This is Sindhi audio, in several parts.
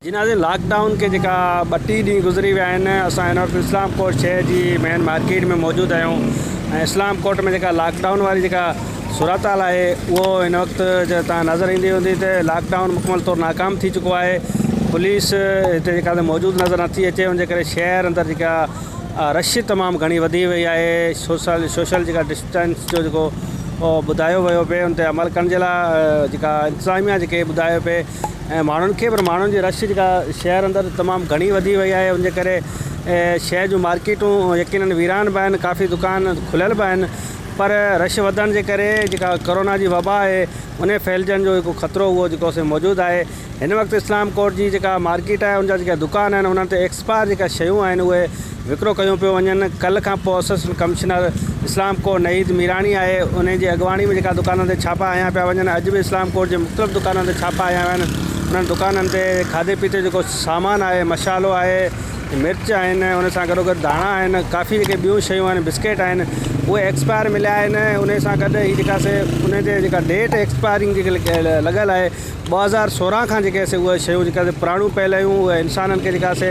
جنازي لاڪ ڊائون کي جيڪا ٻه ٽي ڏينهن گذري ويا آهن اسان هن وقت اسلام ڪوٽ شهر جي مين مارڪيٽ ۾ موجود آهيون ۽ اسلام ڪوٽ ۾ جيڪا لاڪ ڊائون واري جيڪا صورتحال آهي اهو هن وقت جي تان نظر ايندي هوندي ته لاڪ ڊائون مڪمل طور ناڪام ٿي چڪو آهي پوليس هتي جيڪا موجود نظر نٿي اچي ان جي ڪري شهر اندر جيڪا رش تمام گهڻي وڌي وئي آهي سوشل سوشل جيڪا ٽائمز جو جيڪو ٻڌايو ويو پئي ان تي عمل ڪرڻ جي لاء جيڪا انتظاميا جيڪي ٻڌايو پئي ۽ ماڻهن کي پر ماڻهن جي رش جيڪا شهر اندر تمام گهڻي وڌي وئي آهي ان جي ڪري شهر جون مارڪيٽون يقينن ويران به آهن ڪافي دڪان کليل به آهن پر رش وڌڻ جي ڪري جيڪا ڪورونا جي وبا آهي ان ڦهلجڻ جو هڪ خطرو هو جيڪو سو موجود آهي هن وقت اسلام ڪوٽ جي جيڪا مارڪيٽ آهي ان جا جيڪا دڪان آهن انهن تي ايڪسپائر جيڪا شيون آهن اهي وڪرو ڪيون پيون وڃن ڪلهه کان پوء assistant commissioner Islamkot Naheed Mirani آهي انهي جي اڳواڻي ۾ جيڪا دڪانن تي ڇاپا هنيا پيا وڃن اڄ به اسلام ڪوٽ جي مختلف دڪانن تي ڇاپا هنيا ويا آهن انهن دڪانن تي کاڌي پيتي جيڪو سامان آهي مشالو آهي مرچ آهن ان سان گڏو گڏ ڌاڻا آهن ڪافي جيڪي ٻيون شيون آهن بسڪيٽ آهن اهي ايڪسپائر مليا آهن انهي سان گڏ هي جيڪا سي انهي تي جيڪا ڊيٽ ايڪسپائرنگ جيڪي لڳل آهي ٻه هزار سورهن کان جيڪي سي اهي شيون جيڪي سي پراڻيون پيل آهيون اهي انسانن کي جيڪا سي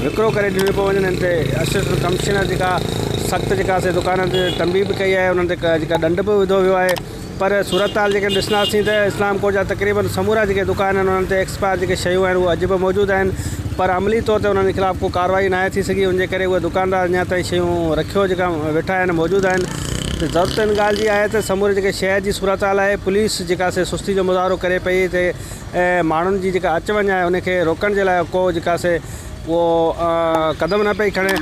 وڪرو ڪري ڏنيون پيون وڃن ان تي اسسٽنٽ ڪمشنر جيڪا سخت جيڪا سي دڪانن تي تنبيهه به ڪئي آهي انهن تي جيڪا ڏنڊ به وڌو ويو آهي پر صورتحال جيڪي ڏسنداسين ته اسلام ڪوٽ جا تقريبن سمورا جيڪي دڪان آهن انهن تي ايڪسپائر جيڪي شيون آهن اهي اڄ به موجود آهن پر عملي طور تي انهن جي خلاف ڪو ڪارروائي ناهي ٿي سگهي ان جي ڪري اهي دڪاندار اڃا تائين شيون رکيو جيڪا ويٺا آهن موجود آهن ته ضرورت ان ڳالهه جي آهي ته سموري جيڪي شهر جي صورتحال آهي پوليس جيڪا سي سستي جو مظاهرو ڪري پئي تي ماڻهن جي جيڪا اچ وڃ آهي ان کي روڪڻ جي لاء ڪو جيڪا سي اهو قدم نه پئي کڻي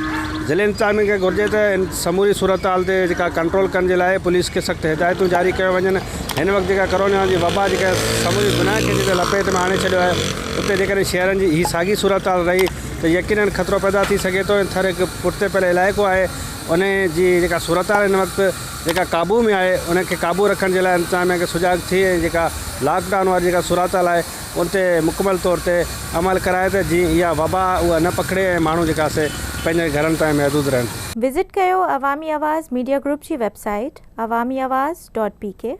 ضلعي انتظاميا کي گهرجي ته ان سموري صورتحال تي جيڪا ڪنٽرول ڪرڻ جي لاء پوليس کي سخت هدايتون جاري ڪيو وڃن هن وقت جيڪا ڪرونا جي وبا جيڪا سموري دنيا کي جيڪا لپيت ۾ آڻي ڇڏيو آهي اتي جيڪڏهن شهرن جي هي ساڳي صورتحال رهي ته يقينن خطرو پيدا ٿي سگهي ٿو ۽ ٿر هڪ پٺتي پيل علائقو آهي انهي جي جيڪا صورتحال هن وقت جيڪا قابو ۾ آهي ان کي قابو رکڻ جي لاء انتظاميا کي سجاڳ ٿي ۽ جيڪا لاڪ ڊائون واري جيڪا صورتحال آهي ان تي مڪمل طور تي عمل ڪرائي ته جيئن اها وبا اها نه پکڙي ۽ ماڻهو جيڪا سي پنهنجن گهرن تائين محدود رهن. وزٽ ڪيو عوامي آواز ميڊيا گروپ جي website Awami Awaz dot P ڪي.